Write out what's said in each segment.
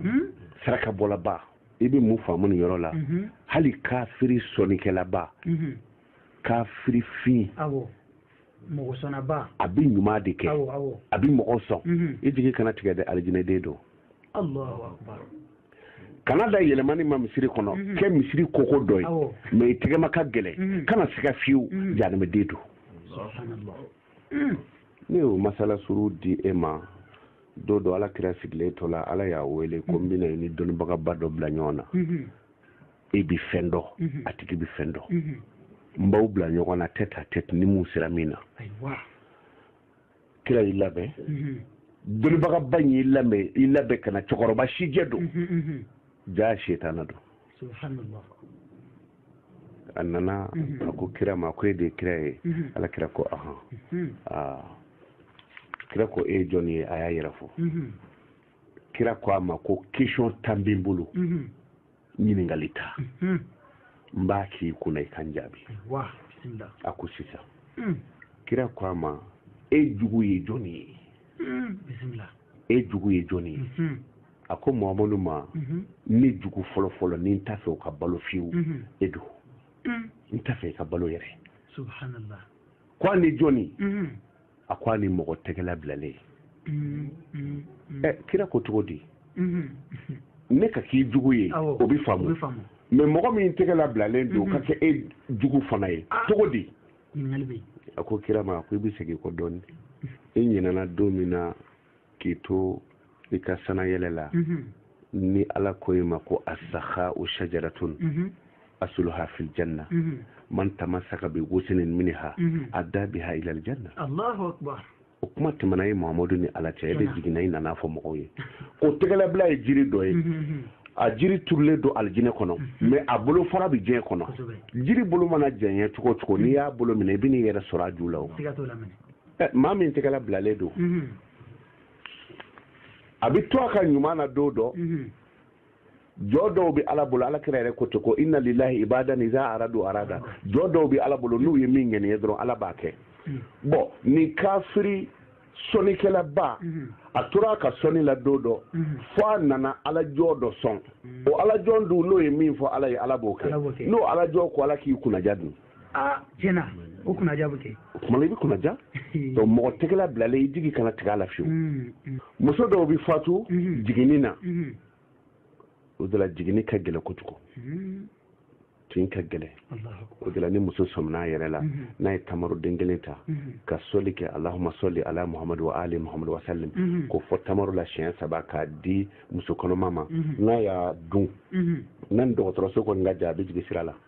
Hmm? saraka bɔlaba i bɛ mun faamu nin yɔrɔ la mhm. hali kafiri sɔnnikɛlaba mhm. kafiri fin mɔgɔ sɔnnaba a bɛ ɲuman de kɛ a bɛ mɔgɔ sɔn mhm. i jigi kana tigɛ dɛ alijinɛden don kana da yɛlɛmani ma misiri kɔnɔ mhm. kɛ misiri koko dɔ ye mais i tɛgɛma ka gɛlɛn mhm. kana siga fiyewu mhm. jahanamaden don ne y'o masala surun di e ma don dɔ ala kira sigilen to la ala y'a wele ko n bɛna i ni dɔnnibagaba dɔ bila ɲɔgɔn na e bi fɛn dɔn a tigi bi fɛn dɔn n b'aw bila ɲɔgɔn na tête à tête ni min sera min na kira y'i labɛn dɔnnibagaba in y'i labɛn i labɛn ka na cɛkɔrɔba sijɛ don jaa setana don subhanallah a nana a ko kira ma ko e de ye kira ye ala kira ko ahan aa kira ko e ye jɔn ye a y'a yɛrɛ fɔ kira ko a ma ko question tan bɛ n bolo ɲininkali tan n b'a k'i kunna i ka n jaabi a ko sisan kira ko a ma e jugu ye jɔni ye e jugu ye jɔni ye a ko mamadu ma ne jugu fɔlɔfɔlɔ ni n t'a fɛ o ka balo fiyewu e don n t'a fɛ i ka balo yɛrɛ subhanallah ko ani jɔni a ko ani mɔgɔ tɛgɛ labilalen mm, mm, mm. ɛ kira ko cogo di ne ka k'i jugu ye o bɛ faamu mais mɔgɔ min tɛgɛ labilalen don ka kɛ e jugu fana ye ah. cogo di a ko kira ma a ko i bɛ segin kɔ dɔɔnin e ɲinɛna don min na k'i to i ka sanayɛlɛ la mhm. ni ala ko i ma ko as-sakha'u shajaratun mhm. asuluha fil janna mhm. man tamassaka bi ghusnin minha adda biha ilal janna allahu akbar o kuma tɛmɛna ye mahamadu ni ala cɛ e bɛ jiginna i nana fɔ mɔgɔw ye ko tɛgɛlabila ye jiri dɔ ye a jiri turulen don alijinɛ kɔnɔ mhm. mais a bolofara bɛ diɲɛ kɔnɔ jiri bolo mana jɛɲɛ cogo o cogo n'i y'a bolo minɛ i bɛ n'i yɛrɛ sɔrɔ a ju la o maa min tɛgɛ labilalen don a bɛ to a ka ɲuman na don dɔ jɔn dɔw bɛ ala bolo ala kira yɛrɛ ko ten ko inna lillahi ibadan iza aradu arada jɔn dɔw bɛ ala bolo n'u ye min ŋaniya dɔrɔn ala b'a kɛ bon nin kafiri sɔnnikɛlaba a tora a ka sɔnni la don dɔ fo a nana ala jɔn dɔ sɔn o ala jɔn dun n'o ye min fɔ ala ye ala b'o kɛ n'o ala jɔn ko ala k'i kunnaja dun aa tiɲɛ na o kunnaja bɛ kɛ o tuma na i bɛ kunnaja donc mɔgɔ tɛgɛla bilalen i jigi kana tigɛ a la fiyewu mm, mm. muso dɔw bɛ fatu mm-hmm. jiginni na mm-hmm. o de la jiginni ka gɛlɛn kojugu mm-hmm. tin ka gɛlɛn o de la ni muso sɔminna a yɛrɛ la n'a ye tamaroden kelen ta ka sɔli kɛ alahuma sɔli ala muhamadu wa ali muhamadu wa salim k'o fɔ tamaro la siɲɛ saba k'a di muso kɔnɔma ma n'a y'a dun n'a ni dɔgɔtɔrɔso kɔni ka jan a bɛ jigin sira la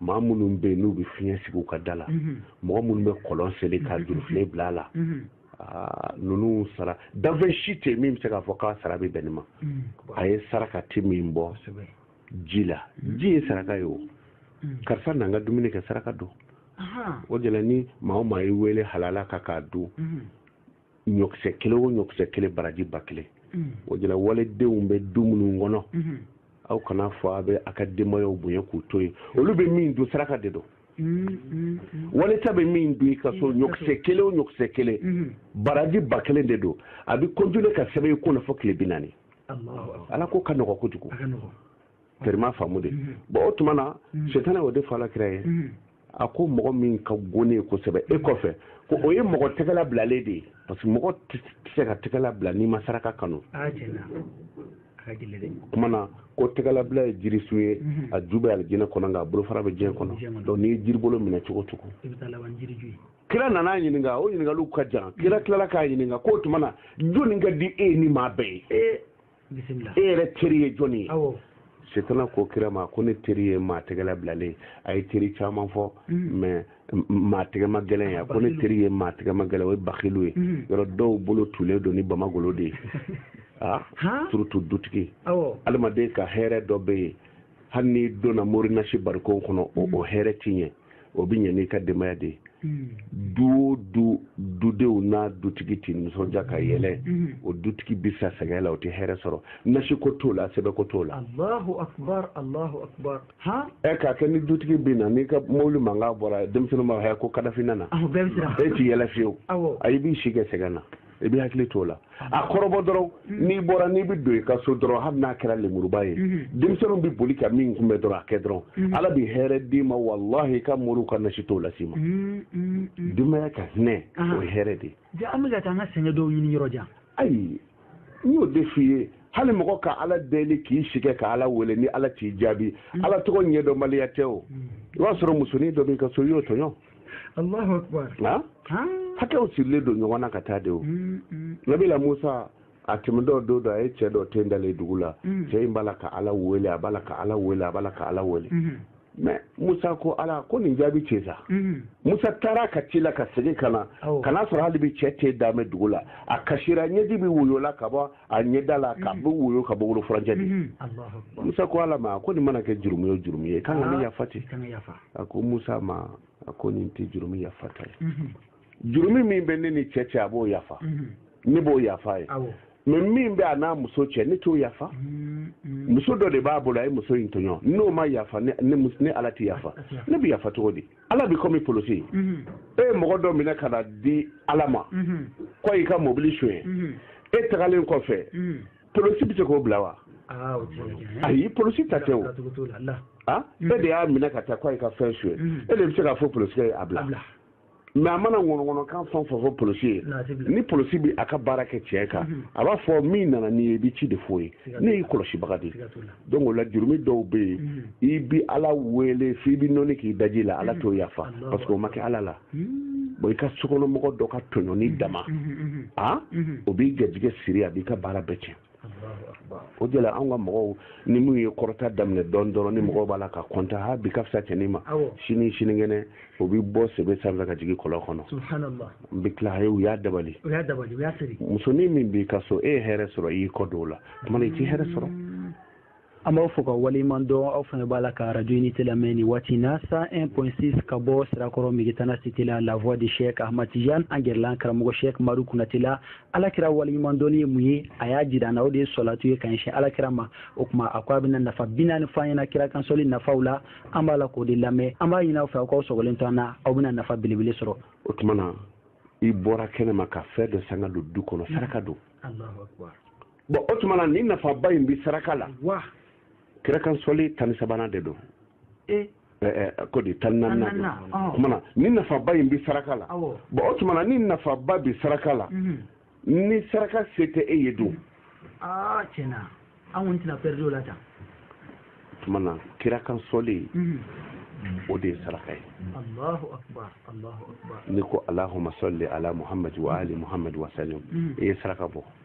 maa minnu bɛ yen n'u bɛ fiɲɛ sigi u ka da la mɔgɔ minnu bɛ kɔlɔn seli ka jurufilen bila a la ninnu sara danfɛn si tɛ min bɛ se k'a fɔ k'a sara bɛ bɛn nin ma a ye saraka tɛ min bɔ ji la ji ye saraka ye o karisa n'an ka dumuni kɛ saraka don o de la ni maa o maa y'i wele halala kan k'a dun ɲɔkisɛ kelen o ɲɔkisɛ kelen baraji ba kelen mm. o de la waledenw bɛ du minnu kɔnɔ mm-hmm. aw kan'a fɔ a bɛ a ka denbayaw bonya k'u to yen olu bɛ min dun saraka de don mm-hmm. wali ta bɛ min dun i ka so mm-hmm. ɲɔkisɛ kelen o ɲɔkisɛ kelen baraji ba kelen de don a bɛ continuer ka sɛbɛn i kunna fo tile bi naani ala ko ka nɔgɔ kojugu terima faamu de bon o tuma na setana o de fɔ ala kira ye a ko mɔgɔ min ka go ne ye kosɛbɛ e kɔfɛ ko o ye mɔgɔ tɛgɛla bilalen de ye parce que mɔgɔ tɛ se ka tɛgɛla bila n'i ma saraka kanu kuma na ko tɛgɛlabila ye jirisun ye mhm. a ju bɛ alijinɛ kɔnɔ nka a bolofara bɛ diɲɛ kɔnɔ donc n'i ye jiribolo minɛ cogo o cogo kira nan'a ɲininka o ɲininkaliw ka jan kira tilala k'a ɲininka k'o tuma na jɔni ka di e ni maa bɛɛ ye e yɛrɛ teri ye jɔni ye setana ko kira ma ko ne teri ye maa tɛgɛla bilalen a ye teri caman fɔ mm. mais maa tɛgɛma gɛlɛn ye a ko ne teri ye maa tɛgɛma gɛlɛn o ye bakilu ye mm. yɔrɔ dɔw bolo tulen don ni bamagolo de ye a surtout dutigi adamaden ka hɛrɛ dɔ bɛ yen hali n'i donna morinasi barikon kɔnɔ o mm. hɛrɛ tɛ ɲɛ o bɛ ɲɛ n'i ka denbaya de ye mm. du o du dudenw n'a dutigi tɛ nisɔndiya ka yɛlɛ mm. o dutigi bɛ sa sɛgɛn la o tɛ hɛrɛ sɔrɔ nasi ko t'o la sɛbɛn ko t'o la. alahu akubar alahu akubar. han. ɛ k'a kɛ ni dutigi bɛ na n'i ka mobili mankan bɔra denmisɛnninw b'a fɔ ko kadafi nana. awɔ bɛɛ bɛ siran. e tɛ yɛlɛ fiyewu. awɔ. ayi i b'i si kɛ sɛgɛn na. i b'i hakili t'o la a kɔrɔbɔ dɔrɔn mm-hmm. n'i bɔra n'i bɛ don i ka so dɔrɔn hali n'a kɛra lemuruba ye mm-hmm. denmisɛnninw bɛ boli ka min kunbɛn dɔrɔn a kɛ dɔrɔn mm-hmm. ala bɛ hɛrɛ d'i ma walahi i ka moriw ka nasi t'o las'i ma denbaya ka hinɛ ah. o ye hɛrɛ de ye an bɛ ka taa an ka sɛgɛn dɔw ɲini yɔrɔ jan ayi n y'o de f'i ye hali mɔgɔ ka ala deli k'i si kɛ ka ala wele ni ala t'i jaabi ala tɔgɔ ɲɛdɔnbaliya tɛ o i b'a sɔrɔ musonin dɔ b'i ka so i y'o tɔɲɔ hakɛw sirilen don ɲɔgɔn na ka taa de o mm, mm. nabila musa a tɛmɛtɔ don dɔ a ye cɛ dɔ ten dalen dugu la mm. cɛ in b'a la ka ala wele a b'a la ka ala wele a b'a la ka ala wele mm-hmm. mais musa ko ala ko nin jaabi cɛ sa mm-hmm. musa taara ka ci la ka segin ka na ka n'a sɔrɔ hali bi cɛ ten dalen dugu la a kasira ɲɛji bɛ woyo la ka bɔ a ɲɛda la ka mm-hmm. bɛ woyo ka bɔ bolofurancɛ de musa ko ala ma ko nin mana kɛ jurumu ye jurumu ye kan ka ne ah, yafa ten a ko musa ma a ko nin tɛ jurumi yafata ye mhm. jurumi min bɛ ne ni cɛ cɛ a b'o yafa mhm. ne b'o yafa a ye mais min bɛ a n'a muso cɛ ne t'o yafa mhm. muso dɔ de b'a bolo a ye muso in tɔɲɔ n'o ma yafa ne ala tɛ yafa ne bɛ yafa cogo di ala bɛ kɔmi polosi ye e ye mɔgɔ dɔ minɛ ka n'a di ala ma ko a y'i ka mobili sonya e tagalen kɔfɛ polosi bɛ se k'o bila wa ah, ayi polosi ta tɛ o ah, mm. e de y'a minɛ ka taa ko a y'i ka fɛn suɲɛ mm. e de bɛ se k'a fɔ polosi ye a bila mais a mana ŋɔnɔŋɔnɔkan fɛn fɛn fɔ polosi ye ni polosi bɛ a ka baara kɛ tiɲɛ kan mm-hmm. a b'a fɔ min nana n'i ye i bɛ ci de f'o ye ne y'i kɔlɔsibaga de donc o la jurumi dɔw bɛ yen mm-hmm. i bɛ ala wele f'i bɛ nɔni k'i daji la ala mm-hmm. t'o yafa parce que o ma kɛ ala la Hmm. bon i ka sokɔnɔmɔgɔ dɔ ka tɔɲɔni hmm, dama hmm, a o b'i garijɛgɛ siri a b'i ka baara bɛɛ tiɲɛ o de la anw ka mɔgɔw ni min ye kɔrɔta daminɛ dɔɔni dɔrɔn ni mɔgɔw b'a la ka kɔnta ha bi ka fisa cɛnin ma sini sinikɛnɛ o bɛ bɔ sebe sanfɛ ka jigin kɔlɔn kɔnɔ n bɛ tila ye u y'a dabali musonin min b'i ka so e ye hɛrɛ sɔrɔ i y'i kɔ don o la tuma i tɛ hɛrɛ sɔrɔ an b'aw fo ka waleɲuman dɔn aw fana b'a la ka radio unité lamɛn nin waati na 101.6 ka bɔ sirakɔrɔ megitana cité la la voix de cheikh ahmad tijan an gɛrɛla an karamɔgɔ cheikh madu kunate la alakira waleɲuman dɔnni ye mun ye a y'a jira an na o de ye sɔlatu ye ka ɲɛsin alakira ma o tuma a ko a bɛna nafa bi naani fɔ an ɲɛna kira kan sɔli nafaw la an b'a la k'o de lamɛn an b'a ɲini aw fɛ aw k'aw sɔgɔlen to an na aw bɛna nafa belebele sɔrɔ o tuma na i bɔra kɛnɛ ma ka fɛn dɔ san ka don du kɔnɔ saraka don bɔn o tuma na ni nafaba in bɛ saraka la wa kira kan sɔli tan ni sabanan de don e ko di tan naani Tan naaninan, don ɔ. o tuma na ni nafaba in bɛ saraka la Awɔ. bɔn o tuma na ni nafaba bɛ saraka la mhm. ni saraka se tɛ e ye dun aa tiɲɛ na an kɔni tɛna pɛridi o la tan o tuma na kira kan sɔli Mhm. o de ye saraka ye alahu akubar alahu akubar n'i ko alahuma sɔli ala muhamadi wa ali muhamadi wa salim Mhm. i ye saraka bɔ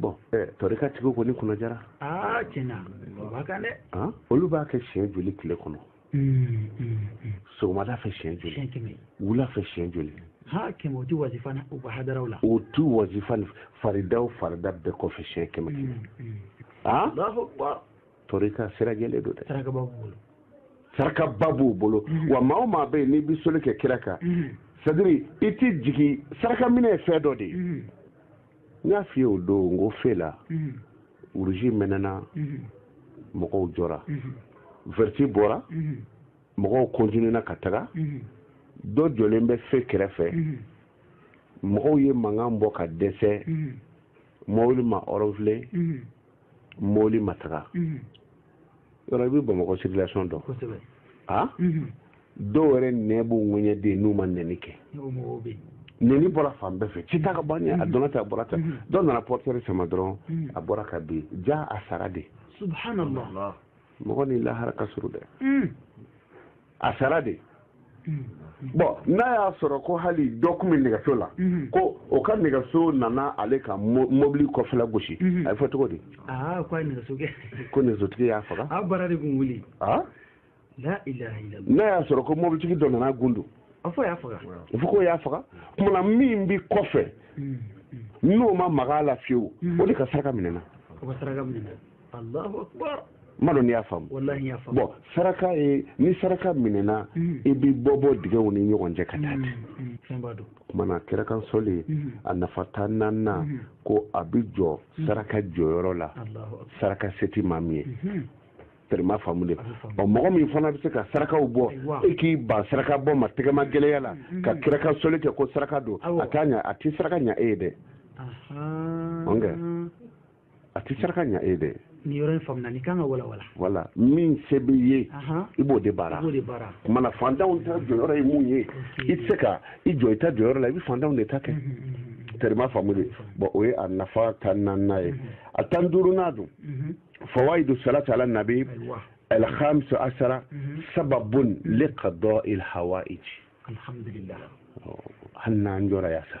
bɔn tɔrika tigiw kɔni kunna jara aa tiɲɛ na o b'a kan dɛ olu b'a kɛ siɲɛ joli tile kɔnɔ hmm, hmm, hmm. sɔgɔmada fɛ siɲɛ joli wula fɛ siɲɛ joli ha kɛmɛ o ti wazifa u ka hadaraw la o ti wazifa faridaw farida bɛɛ kɔfɛ siɲɛ kɛmɛ kɛmɛ a tɔrika sira jɛlen don dɛ saraka ba b'u bolo wa maa o maa bɛ yen n'i bɛ soli kɛ kira kan c'est-à-dire i tɛ jigin saraka minɛ ye fɛn dɔ de ye n y'a f'i ye o don n ko fe la urusi mɛnɛna mɔgɔw jɔra vɛriti bɔra mɔgɔw kɔntinena ka taga dɔ jɔlen bɛ fe kɛrɛfɛ mɔgɔw ye mankan bɔ ka dɛsɛ mɔbili ma ɔrɔnfile mɔli ma taga mhm. yɔrɔ i bɛ bamakɔ circulation dɔn a mhm. dɔw yɛrɛ nɛ b'u ŋɛɲɛden n'u ma nɛni kɛ nɛni bɔra fan bɛɛ fɛ ci t'a ka ban a mhm. donna tɛ a bɔra tɛ dɔw nana portière sama dɔrɔn a bɔra ka bin jaa a sara de subhanallah mɔgɔ ni lahara ka surun dɛ a sara de bɔn n'a y'a sɔrɔ ko hali dɔ kun bɛ nɛgɛso la mhm. ko o ka nɛgɛso nana ale ka mobili kɔfɛla gosi mhm. a bɛ fɔ cogo di ah, ko nɛgɛsotigi y'a faga ah, ah? n'a y'a sɔrɔ ko mobilitigi dɔ nana gundu a fɔ k'o y'a faga kumana min bɛ kɔfɛ mhm. n'o ma maga a la fiyewu o de ka saraka minɛna ma dɔn n'i y'a faamu bɔn saraka ye ni saraka minɛna hmm. i bɛ bɔ bɔ dingɛw ni ɲɔgɔn cɛ ka taa hmm, hmm, ten kumana kira kan soli a nafa tan naaninan ko a bɛ jɔ saraka jɔyɔrɔ la saraka se tɛ maa min ye tɛrɛma faamu de ɔ mɔgɔ min fana bɛ se ka sarakaw bɔ e k'i ban saraka bɔ ma tɛgɛmagɛlɛya la ka kira kan soli kɛ ko saraka don a t'a ɲa a tɛ saraka ɲa e ye dɛ a tɛ saraka ɲa e ye dɛ nin yɔrɔ in faamuna ni kan ka walawala voilà min se b'i ye i b'o de baara kumana fantanw ta jɔyɔrɔ ye mun ye i tɛ se ka i jɔ i ta jɔyɔrɔ la i bɛ fantanw de ta kɛ tɛrɛma faamu de bɔn o ye a nafa tan naaninan ye a tan duurunan dun fawaidu salati ala nabi alhamisa asara sababun li qadail hawaiji alhamdulillah hali n'an jɔra yan sa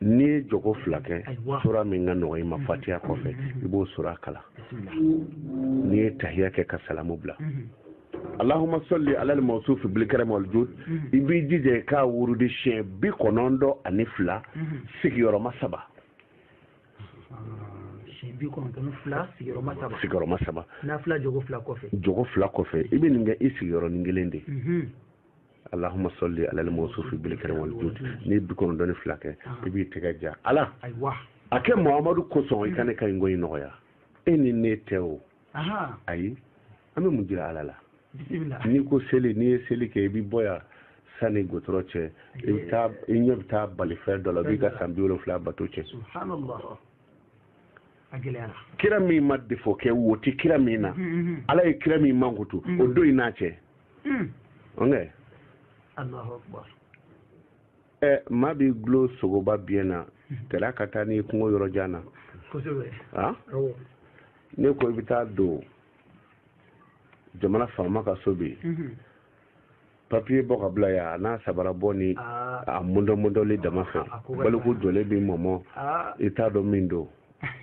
n'i ye jogo fila kɛ sura min ka nɔgɔ i ma fatiya kɔfɛ i b'o sura kalan n'i ye tahiya kɛ ka salamu bila allahuma salli ala al mawsufi bil karam wal jud i b'i jija i k'a wurudi siɲɛ bi kɔnɔntɔn ani fila sigiyɔrɔma saba sigiyɔrɔma saba jogo fila kɔfɛ i bɛ nin kɛ i sigiyɔrɔnin kelen de allahuma salli alal mawsufi bil karam wal jud n'i bi kɔnɔntɔn ni fila kɛ i b'i tɛgɛ ja ala aywa a kɛ muhammadu kosɔn i ka ne ka nin ko in nɔgɔya e ni ne tɛ o ayi an bɛ mun jira ala la n'i ko seli n'i ye seli kɛ i bɛ bɔ yan sani gotoro cɛ i bɛ taa i ɲɛ bɛ taa bali fɛn dɔ la b'i ka san bi wolonfila bato cɛn kira min ma defo kɛ wo tɛ kira min na ala ye kira min mankutu o don i n'a cɛ hmm. ɔnkɛ ɛ maa b'i dulon sogoba biɲɛ na kɛlɛ ka taa n'i kungo yɔrɔ jan na n'i ko i bɛ taa don jamana faama ka so bɛ yen papiye bɔ ka bila yan a n'a sabara bɔ ni a mɔndɔmɔndɔli dama fɛ baliku jɔlen b'i mɔmɔ i t'a dɔn min don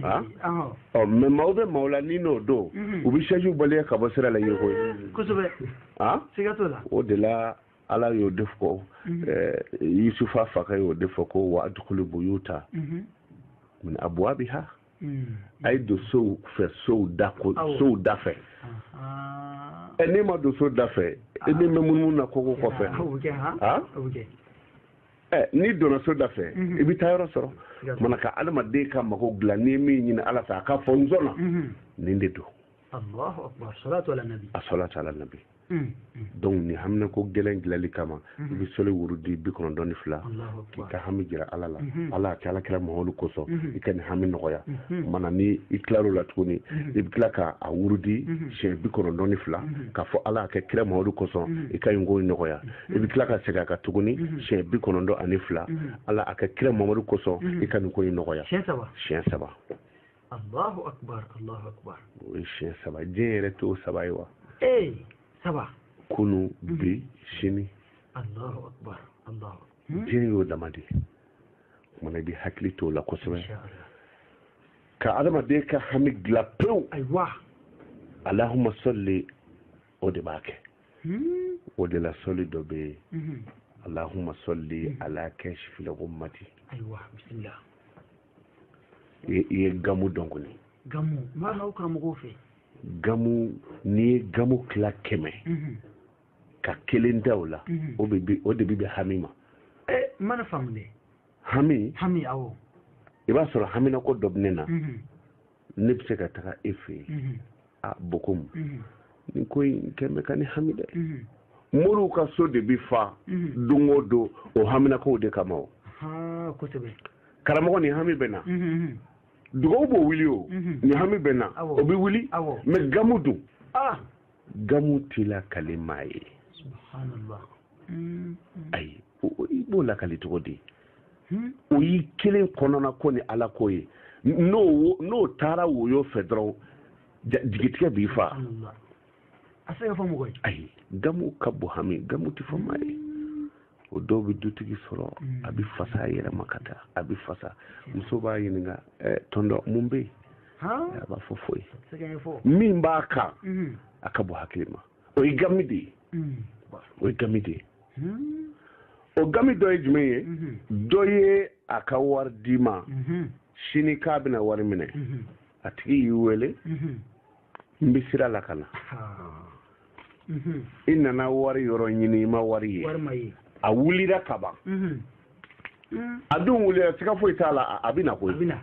Ah? ɔ oh, mɛ maaw bɛ maaw la n'i n'o don mhm. u bɛ sɛju baliya ka bɔ sira la ye koyi kosɛbɛ ah? siga t'o la o de la ala y'o de fɔ mhm. eh, yusufa fakɛ y'o de fɔ ko wa dukulu buyuta mhm. min abuwabiha a ye don sow fɛ sow da ko sow da fɛ ɛ n'e ma don so da fɛ e bɛ mɛn munumunu na koko kɔfɛ Eh, n'i donna so da fɛ mhm. i bɛ taayɔrɔ sɔrɔ mana ka adamaden ka mago dilan n'i ye min ɲini ala fɛ a ka fɔ n sɔnna mhm. nin de don asalatu ala nabi mhm. donc nin haminako gɛlɛn dilanli kama i bɛ sɔli wurudi bi kɔnɔntɔn ni fila k'i ka hami jira ala la ala a kɛ ala kira mamadu kosɔn i ka nin hami nɔgɔya mana ni i tilal'o la tuguni i bɛ tila ka a wurudi siɲɛ bi kɔnɔntɔn ni fila k'a fɔ ala a kɛ kira mamadu kosɔn i ka nin ko nɔgɔya i bɛ tila ka segin a kan tuguni mhm. siɲɛ bi kɔnɔntɔn ani fila mhm. ala a kɛ kira mamadu kosɔn mhm. i ka nin ko in nɔgɔya siɲɛ saba siɲɛ saba alahu akubar alahu akubar o ye siɲɛ saba diɲɛ yɛrɛ t'o saba ye wa ee saba kunu bi sini alahu akubar alahu hmm? diɲɛ y'o dama de ye ko mana i bɛ hakili t'o la kosɛbɛ ka adamaden ka hami dilan pewu ayiwa alahuma sɔli o de b'a kɛ hmm. o de la sɔli dɔ bɛ yen hmm. alahuma sɔli hmm. ala kasifil gumati ayiwa bisimila i ye gamu dɔn kɔni gamu maana aw karamɔgɔw fɛ gamu n'i ye gamu tila kɛmɛ ka kelen ta o la o de bɛ bɛn hami ma ɛ eh, n ma nin faamu dɛ hami hami awɔ i b'a sɔrɔ haminako dɔ bɛ ne na ne bɛ se ka taga e fɛ yen a b'i komi nin ko in kɔni bɛ ka ne hami dɛ moriw ka so de bɛ fa don o don o haminakow de kama o karamɔgɔ nin hami bɛ n na dugawu b'o wuli o nin hami bɛ n na o bɛ wuli mɛ gamu dun gamu tɛ lakali maa ye hmm. ayi i b'o lakali cogo di hmm. o y'i kelen kɔnɔna ko ni ala ko ye n'o n'o taara woyo fɛ dɔrɔn jigitigɛ b'i fa a se ka fɔ mɔgɔ ye ayi gamu ka bon hami gamu tɛ fɔ maa ye o dɔ bɛ dutigi sɔrɔ a bɛ fasa a yɛrɛ ma ka taa a bɛ fasa muso b'a ɲininka eh, tonton mun bɛ yen a b'a fɔ foyi min b'a kan mhm. a ka bon hakili ma o ye gami de ye mhm. o ye gami de ye hmm. o gami dɔ ye jumɛn ye mhm. dɔ ye a ka wari d'i ma sini k'a bɛna wari minɛ a tigi y'i wele n bɛ sira la ka na i nana wari yɔrɔ ɲini i ma wari ye a wulira ka ban a dun wulila siga foyi t'a la a bɛ na koyi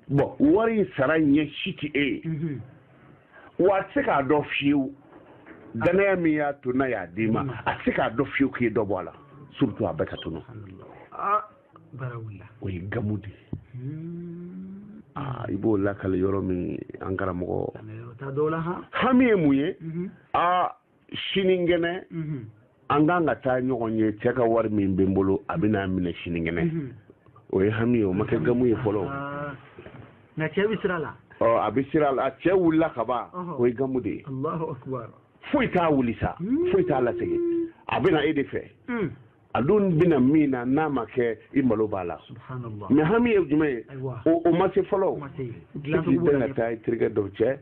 bon wari sara ɲɛ si tɛ e ye wa a tɛ se k'a dɔn fiyewu danaya min y'a to n'a y'a d'i ma a tɛ se k'a dɔn fiyewu k'i dɔ bɔ a la surtout a bɛɛ ka tunu o ye gamu de hmm. ah, i b'o lakale yɔrɔ min an karamɔgɔ hami ye mun ye mhm. a ah, sininkɛnɛ mhm. an kan ka taa ɲɔgɔn ye cɛ ka wari min bɛ n bolo a bɛna minɛ sininkɛnɛ mhm. o ye hami ye o ma kɛ gamu ye fɔlɔ ah. nka cɛ bɛ sira la ɔ a bɛ sira la cɛ wulila ka ban o ye gamu de ye foyi t'a wuli sa hmm. foyi t'a lasegin a bɛna e de fɛ hmm. a dun bɛna min na n'a ma kɛ i malo b'a la mais hami ye jumɛn ye o ma se fɔlɔ i bɛ ka taa i terikɛ dɔ cɛ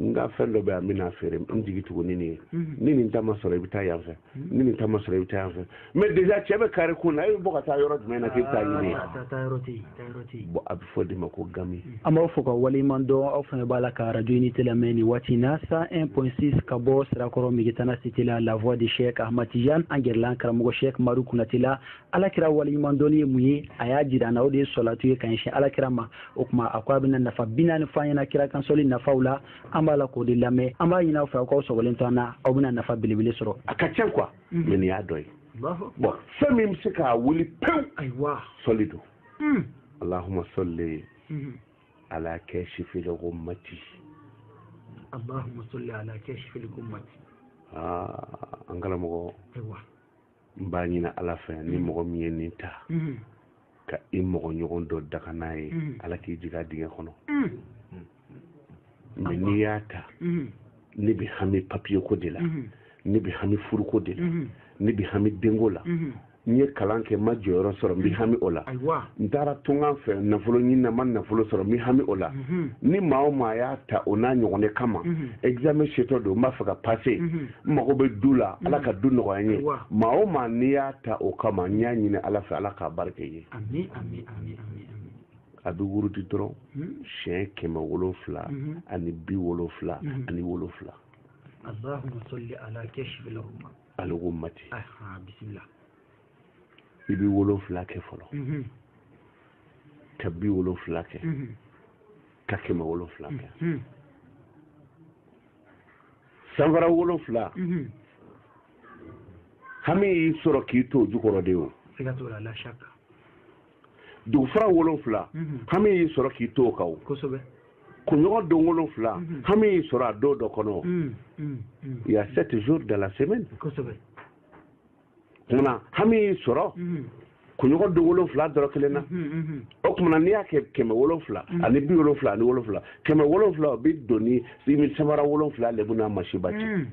n ka fɛn dɔ bɛ yan n bɛna feere n jigi tugu ni nin ye mhm. ni nin ta ma sɔrɔ i bɛ taa yan fɛ mhm. ni nin ta ma sɔrɔ i bɛ taa yan fɛ mais déjà cɛ bɛ kare kun na e bɛ bɔ ka taa yɔrɔ jumɛn na k'i bɛ taa ɲini yen bon a bɛ fɔ de ma ko gami mm. an b'aw fo ka waleɲuman dɔn aw fana b'a la ka radio unité lamɛn nin waati na 101.6 ka bɔ sirakɔrɔ megitana cité la la voix de cheikh ahmad tidiane an gɛrɛla an karamɔgɔ cheikh madu kunati la ala kira waleɲuman dɔnni ye mun ye a y'a jira an na o de ye sɔlatu ye ka ɲɛsin ala kira ma o tuma a ko a bɛna nafa bi naani fɔ an ɲɛna kira kan sɔli nafaw la an b'a la k'o de lamɛn an b'a ɲini aw fɛ aw k'aw sɔgɔlen to an na aw bɛna nafa belebele sɔrɔ a ka ca quoi mm. mais nin y'a dɔ ye bon fɛn min bɛ se k'a wuli pewu ayiwa sɔli don mm. allahumma salli mm-hmm. ala kashifil ghummati allahumma salli ala kashifil ghummati aa ah, an karamɔgɔ ayiwa n b'a ɲini ala fɛ ni mm-hmm. mɔgɔ min ye nin ta mm-hmm. ka i mɔgɔ ɲɔgɔn dɔ daga n'a ye mm. ala k'i jigin dingɛ kɔnɔ mm. mɛ n'i y'a ta mm. ne bɛ hami papiye ko de la ne bɛ hami furuko de la ne bɛ hami denko la n ye kalan kɛ n ma jɔyɔrɔ sɔrɔ n bɛ hami o la n taara tunkan fɛ nafolo ɲini na n ma nafolo sɔrɔ n bɛ hami o la ni maa o maa y'a ta o n'a ɲɔgɔn de kama examen setɔ don n b'a fɛ ka pase n mago bɛ du la mm. ala ka du nɔgɔya n ye maa o maa n'i y'a ta o kama n y'a ɲini ala fɛ ala k'a barika i ye a bɛ wurudi dɔrɔn mm. siɲɛ kɛmɛ wolonfila mm-hmm. ani bi wolonfila mm-hmm. ani wolonfila aleko mati i bɛ wolonfila kɛ fɔlɔ mm-hmm. ka bi wolonfila kɛ ka kɛmɛ wolonfila kɛ sanfara wolonfila mhm. hami y'i sɔrɔ k'i to jukɔrɔ de o dugufara wolonfila mhm. hami y'i sɔrɔ k'i to o kan o kunɲɔgɔn don wolonfila mhm. hami y'i sɔrɔ a don dɔ kɔnɔ il y a sept jours de la semaine kuma na hami y'i sɔrɔ kunɲɔgɔn don wolonfila dɔ rɔ kelen na o kuma na n'i y'a kɛ kɛmɛ wolonfila ani bi wolonfila ani wolonfila kɛmɛ wolonfila o bi don i ni sanfara wolonfila lebu n'a masiba cɛ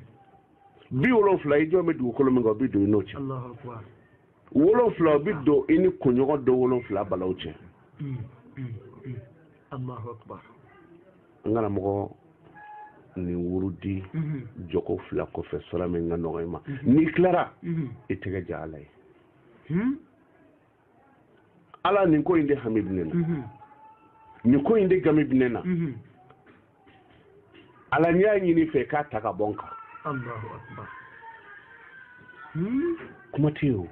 bi wolonfila i jɔlen bɛ dugukolo min kan o bi don i n'o cɛ wolonfila o bi don i ni kunɲɔgɔn don wolonfila balaw cɛ n kana mɔgɔ nin wurudi mhm. jɔko fila kɔfɛ sura min ka nɔgɔ i ma mhm. n'i tilara mhm. i tɛgɛ ja ala ye hmm? ala nin ko in de hami bɛ ne na nin ko in de gami bɛ ne na ala n y'a ɲini i fɛ k'a ta ka bɔ n kan hmm? kuma tɛ yen o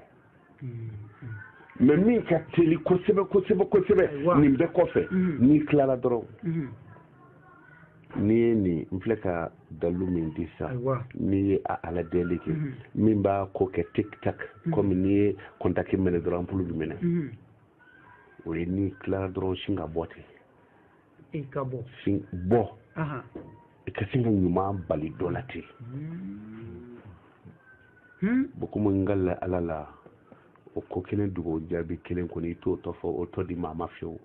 mɛ min ka teli kosɛbɛ kosɛbɛ kosɛbɛ nin bɛɛ kɔfɛ mm-hmm. n'i tilara dɔrɔn mm-hmm. n'i ye nin n filɛ ka dalu min di sa n'i ye a ala deli kɛ mm-hmm. min b'a ko kɛ tik tak kɔmi n'i ye kɔntaki mɛnɛ dɔrɔn anpulu bi mɛnɛ o ye n'i tilara dɔrɔn sin ka bɔ ten i ka bɔ sin bɔ i ka sin ka ɲuman bali dɔ la ten bokuma n ka la ala la o ko kelen dugawu jaabi kelen kɔni i t'o tɔ fɔ o tɔ di maa ma fiyewu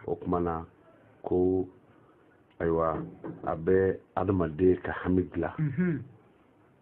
o kuma na ko ayiwa a bɛ adamaden ka hami dilan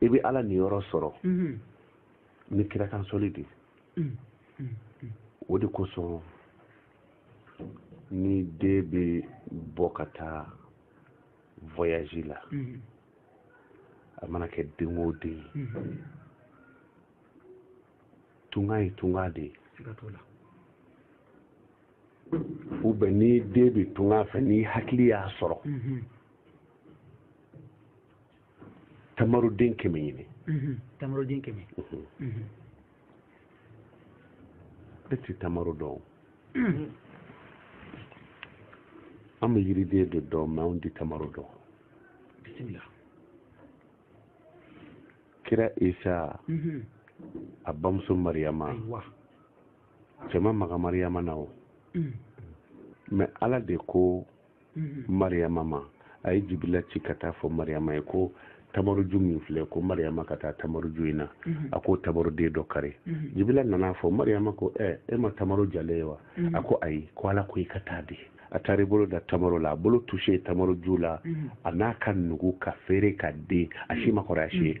i bɛ ala niyɔrɔ sɔrɔ ni kira kan soli de o de kosɔn ni den bɛ bɔ ka taa voyage la a mana kɛ den o den tunga ye tunga de ye ou bien ni den bɛ tunga fɛ ni hakili y'a sɔrɔ tamaroden kɛmɛ ɲini tamaroden kɛmɛ e ti tamaro dɔn an bɛ yiriden de dɔn mais anw ti tamaro dɔn bisimila kira isa a bamuso mariyama cɛ ma maga mariyama na o mm. mais ala de ko mm-hmm. mariyama ma a ye jibila ci ka taa fɔ mariyama ye ko tamaroju min filɛ ko mariyama ka taa tamaroju in na mm-hmm. a ko tamaroden dɔ kari mm-hmm. jibila nana fɔ mariyama ko ɛ e ma tamaro jalen ye wa a ko ayi ko ala ko i ka taa dɛ a taara i bolo da tamaro la a bolo touché tamaroju la a na ka nugu ka feere ka den a si ma kɔrɔ a si ye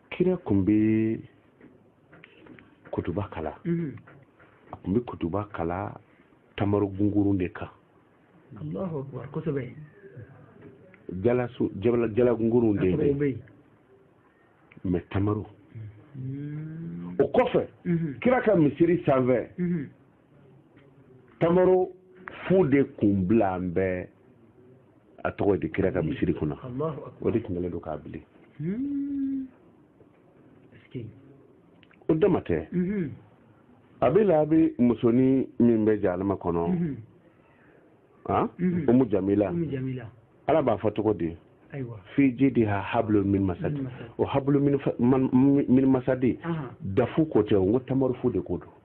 kira kun bɛ kutuba kalan mhm. a kun bɛ kutuba kalan tamaro gungurun de kan jala gungurun de bɛ mais tamaro mhm. o kɔfɛ mhm. kira ka misiri sanfɛ tamaro fu de kun bilalen bɛ a tɔgɔ di kira ka misiri kunna o de tun kɛlen don k'a bili hmm. o dama tɛ mhm. abu lahabi musonin min bɛ jahanama kɔnɔ mhm. ah? mhm. umu jamila ala b'a fɔ cogo di fi jidiha hablu min masadi o hablu min masadi dafu ko tɛ o n ko tamaro fu de ko don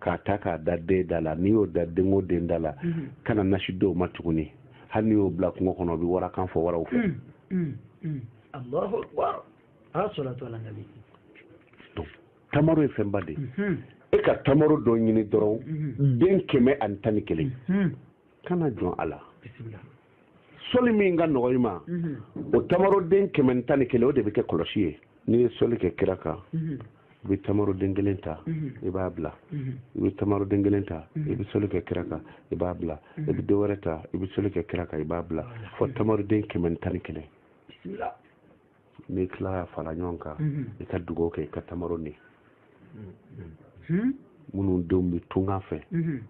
k'a ta k'a da den da la n'i y'o da den o den da la mhm. kana nasi dɔw ma tuguni hali n'i y'o bila kungo kɔnɔ o bɛ wara kan fɔ waraw fɛ. Mm, mm, tamaro ye fɛnba de ye mhm. e ka tamaro dɔ ɲini dɔrɔn mhm. den kɛmɛ ani tan ni kelen kana jɔn a la. soli min ka nɔgɔ i ma mhm. o tamaroden kɛmɛ tan ni kelen o de bɛ kɛ kɔlɔsi ye n'i ye soli kɛ kira kan mhm. i bɛ tamaroden kelen ta mhm. i b'a bila i bɛ tamaroden kelen ta i bɛ soli kɛ kira kan i b'a bila i bɛ dɔ wɛrɛ ta i bɛ soli kɛ kira kan i b'a bila fo tamaroden kɛmɛ tan ni kelen n'i tila ka fara ɲɔgɔn kan mhm. i ka dugawu kɛ i ka tamaro ni mhm. minnu denw bɛ tunga fɛ mhm.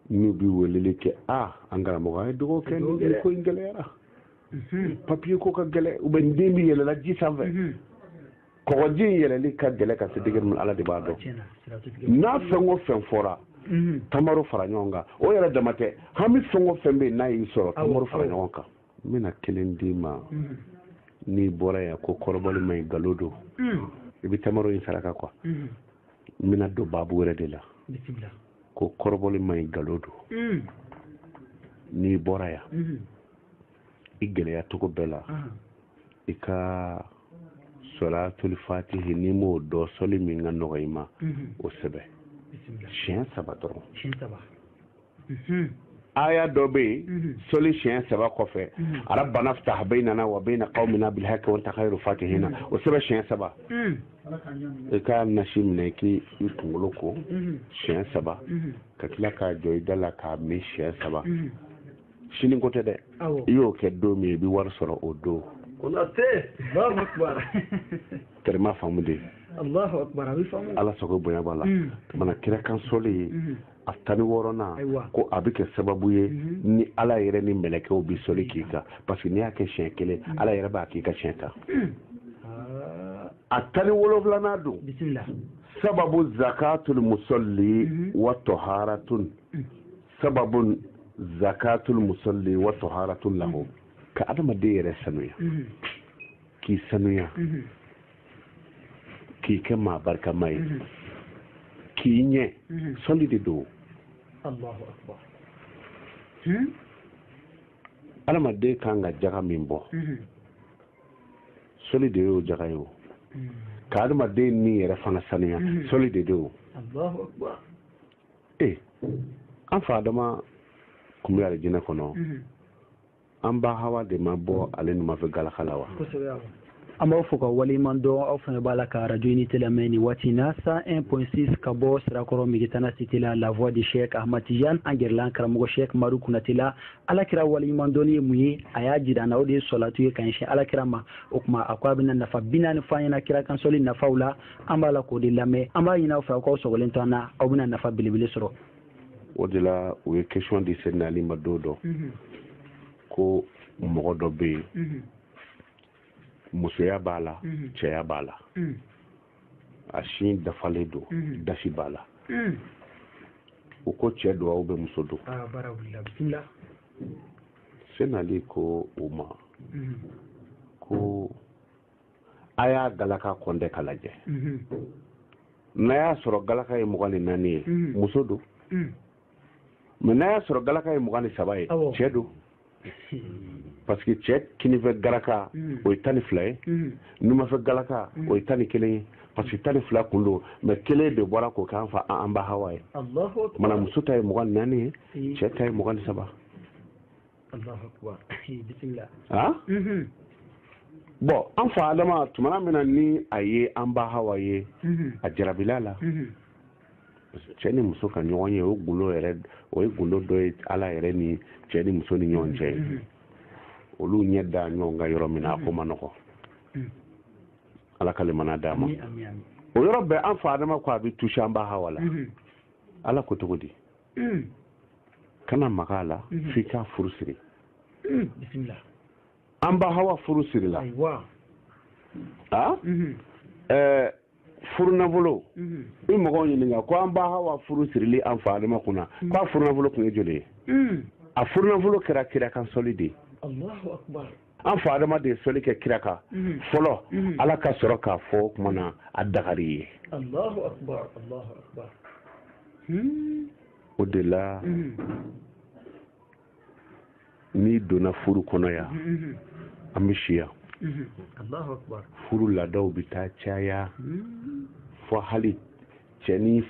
n'u bɛ weleli kɛ a an karamɔgɔ a ye dugawu kɛ nin ko in gɛlɛyara papiye ko ka gɛlɛ u bɛ n den bɛ yɛlɛla ji sanfɛ kɔgɔji in yɛlɛli ka gɛlɛ ka se degere min ala de b'a dɔn n'a fɛn o fɛn fɔra tamaro fara ɲɔgɔn kan o yɛrɛ dama tɛ hami fɛn o fɛn bɛ yen n'a y'i sɔrɔ tamaro fara ɲɔgɔn kan n bɛna kelen d'i ma mm-hmm. n'i bɔra yan ko kɔrɔbɔli ma ɲi nkalon don mm. i bɛ tamaro in saraka quoi mm-hmm. n bɛna don baabu wɛrɛ de la ko kɔrɔbɔli ma ɲi nkalon don mm. n'i bɔra yan mm-hmm. i gɛlɛya cogo bɛɛ la uh-huh. i ka sɔlatul fatihi n'i m'o dɔn sɔli min ka nɔgɔ i ma o sɛbɛn siɲɛ saba dɔrɔn aya dɔ bɛ yen mhm. sɔli siɲɛ saba kɔfɛ mhm. rabbana ftah baynana wa bayna qawmina bil haqqi wa anta khayru fatihina mhm. o sɛbɛn siɲɛ saba i ka nasi minɛ k'i kunkolo ko siɲɛ saba ka tila k'a jɔ i da la k'a min siɲɛ saba sini ko tɛ dɛ i y'o kɛ don min i bɛ wari sɔrɔ o don tɛrɛma faamu de ala sago bonya b'a la mana kira kan sɔli ye a tan ni wɔɔrɔnan ko a bɛ kɛ sababu ye mhm. ni ala yɛrɛ ni mɛlɛkɛw bɛ sɔli k'i kan parce que n'i y'a kɛ siɲɛ kelen mhm. ala yɛrɛ b'a k'i kan siɲɛ tan ah. a tan ni wolonwulanan don sababu zakatul musalli mhm. wa taharatun sababu zakatul musalli wa taharatun lahu ka adamaden yɛrɛ sanuya k'i sanuya k'i kɛ maa barikama ye mhm. k'i ɲɛ mhm. sɔli de don hmm? adamaden kan ka jaga min bɔ mhm. sɔli de y'o jaga ye o hmm. ka adamaden ni yɛrɛ fana sanuya sɔli de don ee eh, an fa adama kun bɛ alijinɛ kɔnɔ an ba hawa de ma bɔ ale numanfɛ galaka la wa an b'aw fo ka waleɲuman dɔn aw fana b'a la ka radio unité lamɛn nin waati na 101.6 ka bɔ sirakɔrɔ migitana cité la la voix de chek ahmad tijan an gɛrɛla an karamɔgɔ chek maru kunate la alakira waleɲuman dɔnni ye mun ye a y'a jira an na o de ye sɔlatu ye ka ɲɛsin alakira ma o tuma a ko a bɛna nafa binaani fɔ an ɲɛna kira kan sɔli nafaw la an b'a la k'o de lamɛn an b'a ɲini aw fɛ aw k'aw sɔgɔlen to an na aw bɛna nafa belebele sɔrɔ o de la u ye question di Seydina Ali ma don dɔ ko mɔgɔ dɔ bɛ yen musoya b'a la cɛya b'a la a sin dafalen don dasi b'a la u ko cɛ don ou bien muso don Seydina Ali ko u ma ko a y'a galaka kɔnte k'a lajɛ mhm. n'a y'a sɔrɔ galaka ye mugan ni naani ye mhm. muso don mhm. mais n'a y'a sɔrɔ galaka ye mugan ni saba ye cɛ don parce que cɛ kinifɛ galaka o ye tan ni fila ye numafɛ galaka o ye tan ni kelen ye parce que tan ni fila kun don mais kelen de bɔra k'o k'an fa an ba hawa ye mana muso ta ye mugan ni naani ye cɛ ta ye mugan ni saba ah? mhm. bon an fa adama tumana min na ni a ye an ba hawa ye mhm. a jarabila a la mhm. cɛ ni muso ka ɲɔgɔn ye o gundo yɛrɛ o ye gundo dɔ ye ala yɛrɛ ni cɛ ni muso ni ɲɔgɔn cɛ ye olu ɲɛ da ɲɔgɔn kan yɔrɔ min na a ko man nɔgɔ ala ka lemana d'a ma o yɔrɔ bɛɛ an fa adama ko a bɛ touché an ba hawa la ala ko cogo di mm. kana maga a la mm-hmm. f'i k'a furu siri mm, bisimila an ba hawa furu sirila ayiwa a mm-hmm. ɛɛ furunafolo mm-hmm. i mɔgɔw ɲininka ko an ba hawa furu sirili an fa adama kunna mm. k'a furunafolo kun ye joli ye mm. a furunafolo kɛra kira kan sɔli de ye an fa adama de ye sɔli kɛ kira kan mhm. fɔlɔ mhm. ala ka sɔrɔ k'a fɔ o tuma na a dagara i ye hmm. o de la mhm. n'i donna furu kɔnɔ yan an bɛ si yan furu laadaw bɛ taa caya hmm. fo hali cɛ ni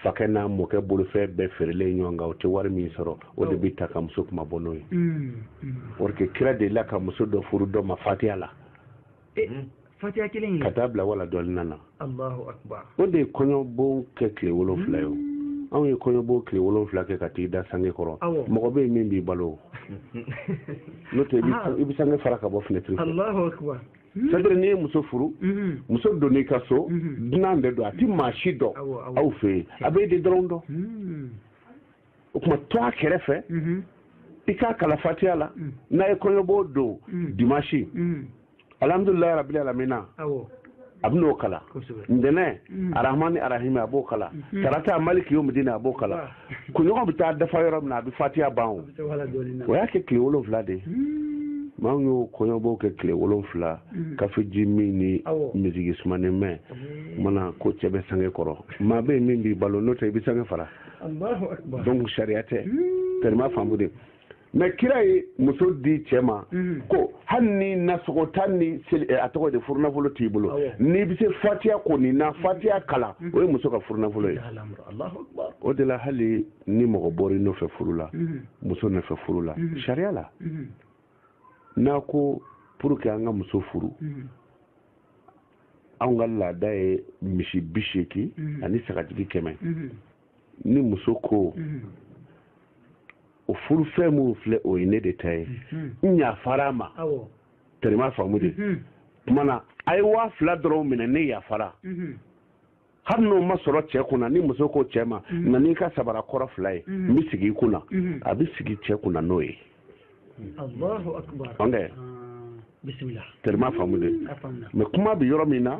fakɛ n'a mɔkɛ bolofɛn bɛɛ feerelen ɲɔgɔn kan o tɛ wari min sɔrɔ o de bɛ ta ka muso kuma bɔ n'o ye parce que kira dela ka muso dɔ furu dɔ ma fatiya la fatiya kelen ka taa bila waladɔlin na o de ye kɔɲɔbon kɛ tile wolonfila ye o anw ye kɔɲɔbon tile wolonfila kɛ ka t'i da sange kɔrɔ mɔgɔ bɛ yen min b'i balo n'o tɛ i bɛ sange fara ka bɔ fenêtre c'est-à-dire n'i ye muso furu muso donn'i ka so dunan de don a ti maa si dɔn aw fɛ yen a bɛ e de dɔrɔn dɔn o tuma to a kɛrɛfɛ i k'a kalan fatiya la n'a ye kɔɲɔbon don dimanche alhamdulilayi rabili alamina a bɛ n'o kalan ntɛnɛn arahmani arahimi a b'o kalan tarata maliki yomidini a b'o kalan kunɲɔgɔn bɛ taa dafa yɔrɔ min na a bɛ fatiya ban o o y'a kɛ tile wolonwula de ye mɛ anw y'o kɔɲɔbɔw kɛ tile wolonwula kafeji min ni miziki sumanen mɛn mana ko cɛ bɛ sange kɔrɔ maa bɛ yen min b'i balo n'o tɛ i bɛ sange fara donc sariya tɛ tɛrɛma faamu de mɛ kira ye muso di cɛ ma mhm. ko hali ni nasɔngɔ tan ni eh, a tɔgɔ de furunafolo t'i bolo n'i bɛ se fatiya kɔni na mhm. fatiya kalan mhm. o ye muso ka furunafolo ye o de la hali ni mɔgɔ bɔra i nɔfɛ furu la muso nɔfɛ furu la sariya la n'a ko pour que an ka muso furu anw ka laada ye misi bi seegin ani sagajigi kɛmɛ ni muso ko mm-hmm. o furu fɛn minnu filɛ o ye ne de ta ye mm-hmm. n yafara a ma tɛrɛma faamu de mm-hmm. tuma na a ye waa fila dɔrɔn minɛ ne yafara hali n'o ma sɔrɔ cɛ kunna ni muso ko cɛ ma na n'i ka sabara kɔrɔ fila ye n bɛ sigi i kunna a bɛ sigi cɛ kunna n'o ye Allahu akbar bismillah tɛrɛma faamu de mɛ kuma bɛ yɔrɔ min na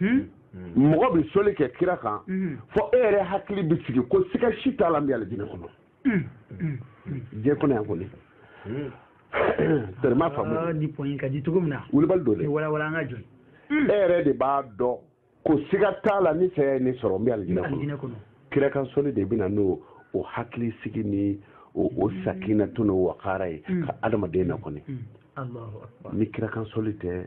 hmm? hmm. mɔgɔ bɛ sɔli kɛ kira kan hmm. fo e yɛrɛ hakili bɛ sigi ko siga si t'a la n bɛ alijinɛ kɔnɔ diɲɛ kɔnɔ yan kɔni tɛrɛma faamu ah, ni point ka di cogo min na wulibali don dɛ walawala an ka jɔ e yɛrɛ de b'a dɔn ko siga t'a la ni saya ye ne sɔrɔ n bɛ alijinɛ kɔnɔ kira kan sɔli de bɛ na n'o hakili sigi ni o sakinatu n'o wakara ye ka adamaden na kɔni ni kira kan sɔli tɛ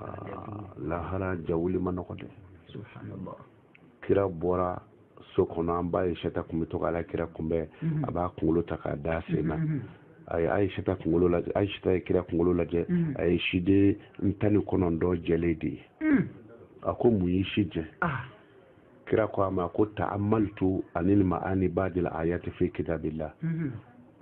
ah, lahara jawuli man nɔgɔ dɛ kira bɔra so kɔnɔ an ba ayisata kun bɛ to k'ala kira kunbɛn mhm. a b'a kunkolo ta k'a da sen na mhm. a ye ayisata kunkolo lajɛ ayisata ye kira kunkolo lajɛ mhm. a ye siden tan ni kɔnɔntɔn jɛlen de ye a ko mun y'i si jɛ ah. kira ko a ma ko ta'ammaltu ani ma'ani ba'dil ayati fi kitabillah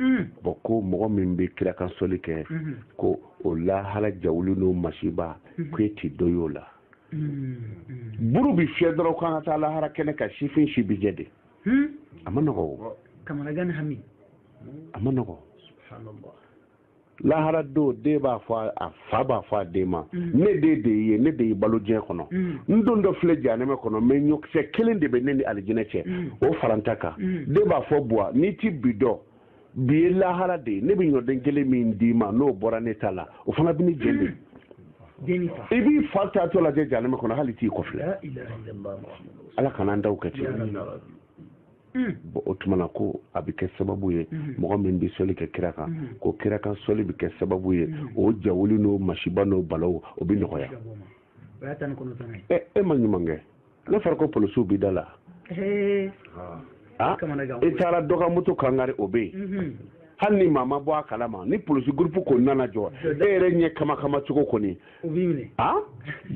Hmm. bon ko mɔgɔ min bɛ kira kan sɔli kɛ hmm. ko o lahara jawuli n'o masiba hmm. ko e tɛ dɔ y'o la buru bɛ fiyɛ dɔrɔn k'an ka taa lahara kɛnɛ kan sifin si bi jɛ de a man nɔgɔ o a man nɔgɔ lahara don den b'a fɔ a fa b'a fɔ a den ma mm. ne den de y'i ye ne de y'i balo diɲɛ kɔnɔ mm. n dontɔ filɛ janɛmɛ kɔnɔ mɛ ɲɔkisɛ kelen de bɛ ne ni alijinɛ cɛ mm. o fara n ta kan den b'a fɔ buwa n'i ti bi dɔn bi ye lahara de ye ne bɛ ɲɔden kelen min d'i ma n'o bɔra ne ta la o fana bɛ ne jeni i b'i fa taatɔ lajɛ janɛmɛ kɔnɔ hali t'i kɔfilɛ ala kana an taw kɛ ten Mm. bon o tuma na ko a bɛ kɛ sababu ye mm. mɔgɔ min bɛ sɔli kɛ kira kan mm. ko kira kan sɔli bɛ kɛ sababu ye o jawuli n'o masiba n'o balaw o bɛ nɔgɔya e ma ɲuman kɛ n'a fɔra ko polisiw bɛ da la ah, i taara dɔ ka moto kan kari o bɛ yen mm-hmm. hali ni maa ma bɔ a kalama ni polisi gurupu kɔni nana jɔ e yɛrɛ ɲɛ kama kama cogo kɔni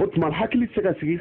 o tuma hakili tɛ se ka sigi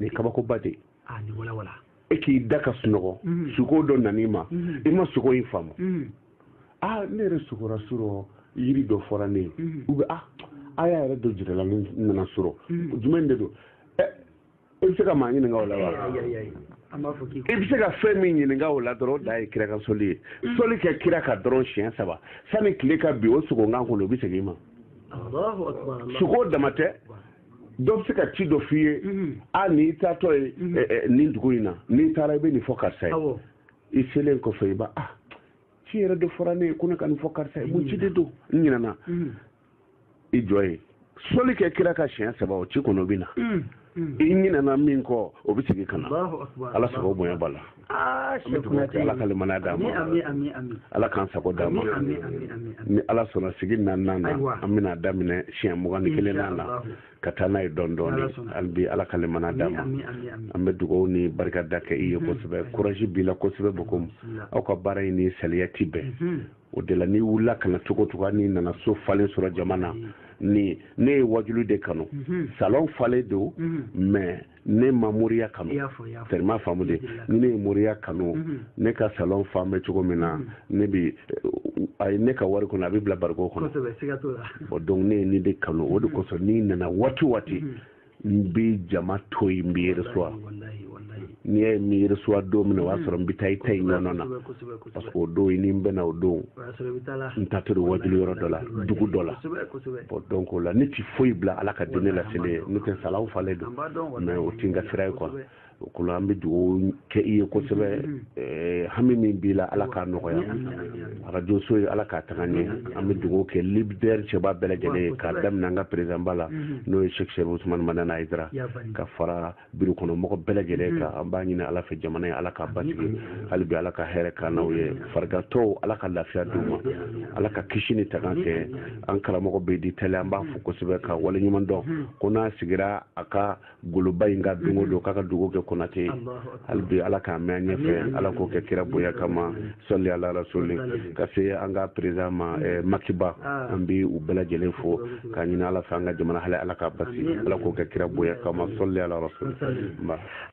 nin kabakoba de ah, ni wala wala e k'i da ka sunɔgɔ mhm. suko dɔ nan'i ma mhm. i ma suko in faamu mhm. a ah, ne yɛrɛ sukora surɔ yiri dɔ fɔra ne ye u bɛ a aya yɛrɛ dɔ jirala ne na surɔ jumɛn de don ɛ i bɛ se ka maa ɲininka o la wa i bɛ se ka fɛn min ɲininka o la dɔrɔn o de ye kira kan soli ye soli kɛ kira kan dɔrɔn siɲɛ saba sani tile ka bin o suko in kan kɔnɔ o bɛ segin i ma suko dama tɛ dɔ bɛ se ka ci dɔ f'i ye mhm. a n'i taatɔ ye mhm. eh, eh, nin dugu in na n'i taara i bɛ nin fɔ karisa ye i selen kɔfɛ i b'a ah ci yɛrɛ de fɔra ne ye ko ne ka nin fɔ karisa ye mun ci de don n ɲinɛna i jɔ ye soli kɛ kira kan siɲɛ saba o ci kɔnɔ bɛ na i ɲinɛna min kɔ o bɛ segin ka na ala sago bonya b'a la Ah, ala ka limaniya d'an ma ala k'an sago d'an ma ni ala sɔnna sigi naani na an bɛna daminɛ siɲɛ mugan ni kelen na ka taa n'a ye dɔɔnin dɔɔnin hali bi ala ka limaniya d'an ma an bɛ dugawu ni barikada kɛ i ye kosɛbɛ kuraji b'i la kosɛbɛ bokum aw ka baara in ni saliya ti bɛn o de la n'i wulila ka na cogo cogo n'i nana so falen sɔrɔ jama na ni ne ye wajulu de kanu salon falen don mais ne ma moriya kanu tellement faamu de ni ne ye moriya kanu mhm. ne ka salon falen bɛ cogo min na mhm. ne bi a ye ne ka wari kɔnɔ a bɛ bila bariko kɔnɔ bon donc ne ye nin de kanu o de mhm. kosɔn n'i nana waati waati n bɛ jama to yen n b'i reçoit n'i y'a ye n m'i reçoit don min na o y'a sɔrɔ n bɛ taa i ta in ɲɔgɔn na parce que o don i ni n bɛnna o don n taatɔ don wajulu yɔrɔ dɔ la dugu dɔ la bon donc o la ne ti foyi bila ala ka diinɛ laseli ɲɛ n'o tɛ salon falen don mais o ti n ka sira ye quoi o ko la an bɛ dugawu kɛ i ye kosɛbɛ eh, hami min b'i la ala k'a nɔgɔya arajo so ye ala k'a taga ɲɛ an bɛ dugawu kɛ libidɛri cɛba bɛɛ lajɛlen ye k'a daminɛ an ka perezidanba la n'o ye shek serifu usumani madani ayidara ka fara biro kɔnɔ mɔgɔ bɛɛ lajɛlen mm-hmm. kan an b'a ɲini ala fɛ jamana ye ala k'a basigi hali bi ala ka hɛrɛ k'an n'aw ye farigantɔw ala ka lafiya d'u ma ala ka kisi ni tanga kɛ mm-hmm. an karamɔgɔ bɛ di tɛlɛ an b'a fo mm-hmm. kosɛbɛ ka waleɲumandɔn ko n'a sigira a ka goloba in kan don o don k'a ka dugawu kɛ konate hali bi ala k'a mɛn an ɲɛfɛ ala k'o kɛ kira bonya kama sɔli ala rasuli ka se an ka perezan ma eh, makiba ah. an bi u bɛɛ lajɛlen fo k'a ɲini ala fɛ an ka jamana hali ala k'a basi ala k'o kɛ kira bonya kama sɔli ala rasuli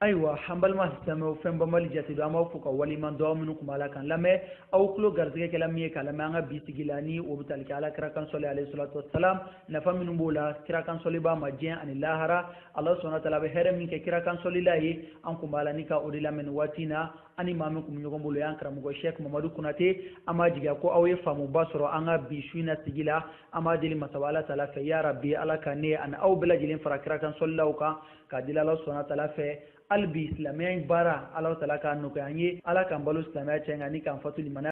ayiwa an balima silamɛw fɛn banbali jate don an b'aw fo ka waleɲuman dɔn aw minnu kun b'a la k'an lamɛn aw tulo garisɛgɛ kɛla min ye k'a lamɛn an ka bi sigi la ni o bɛ tali kɛ ala kira kan sɔli alayhi salatu wasalam nafa minnu b'o la kira kan sɔlibaa ma diɲɛ ani lahara ala subhana wa taala a bɛ hɛrɛ min kɛ kira kan sɔlila ye an kun b'a la ni ka o de lamɛn nin waati in na ani maa min kun bɛ ɲɔgɔn bolo y'an karamɔgɔ sheikh mamadu konate an b'a jigiya ko aw ye faamuba sɔrɔ an ka bi su in na sigi la an b'a deli masaba ala taala fɛ ya rabi ala ka ne ani aw bɛɛ lajɛlen fara kira kan sɔlilaw kan k'a deli ala subhana taala fɛ hali bi silamɛya in baara ala taala k'a nɔgɔya an ye ala k'an balo silamɛya cɛn kan ani k'an fatu limaniya